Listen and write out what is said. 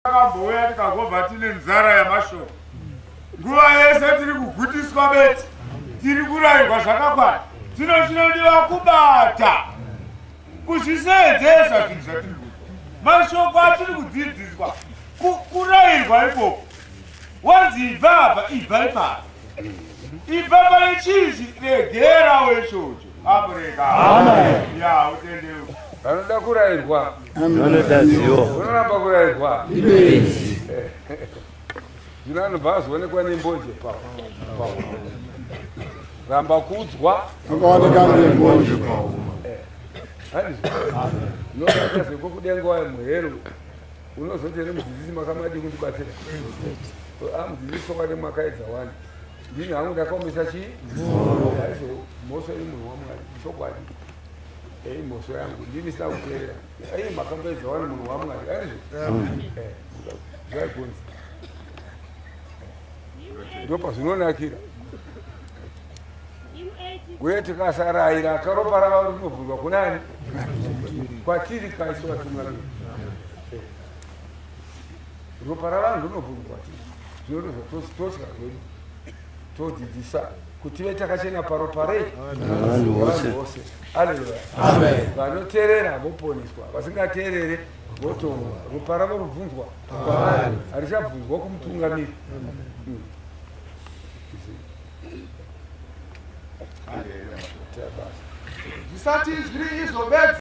Takambouya tikagova tine nzara yamashoko. Nguva yese tiri kugutiswa beti. Tiri kurayirwa zvakakwana. Tino chinodiwa kubata. Kuzvisedzesa zvinhu zvatiri kuita. Mashoko atiri kudzidziswa. Kurayirwa ikoko. Wanzi ibva apa, ibva ipapa. Ibva pane chizvi regera wechocho. Africa. Amen. Yeah, utendeu. Vanoda kurairwa. Vanoda zivo. Unoramba kurairwa. Ibezi. Zvino anobva azoonekwa nembonje pawo. Ramba kudzwa. Akaoneka nembonje pawo. Handizvo. Amen. Unoda zvepo kudenga wayo muhero. Unozoti ere mudzidzisi makamadii kundibatsira. Amudzidzisi ah, kwakati makaedza wani. Ndini hangu ndakaomesa chi mhosva yaizo mhosva iri munhu waMwari chokwadi. Ei mhosva yangu ndini sina kuteerera. Ei makambaidza wani munhu waMwari aizvo. Eh, zvaikunzi. Ndipo pazvinonakira. Uye tikasaraira akaropa rava rinobvunzwa kunani? Kwatiri kaiso vatumwa. Ropa ravanhu rinobvumirwa chii? Zvinodozva totya zvedu todzidzisa kuti ve takachena paropa rei vanhu vose aleluya vanoteerera voponeswa vasingateerere votongwa ropa ravo rubvunzwa kwavari harichabvunzwa kumutungamiri hmm. zvisati zviri izvo bedzi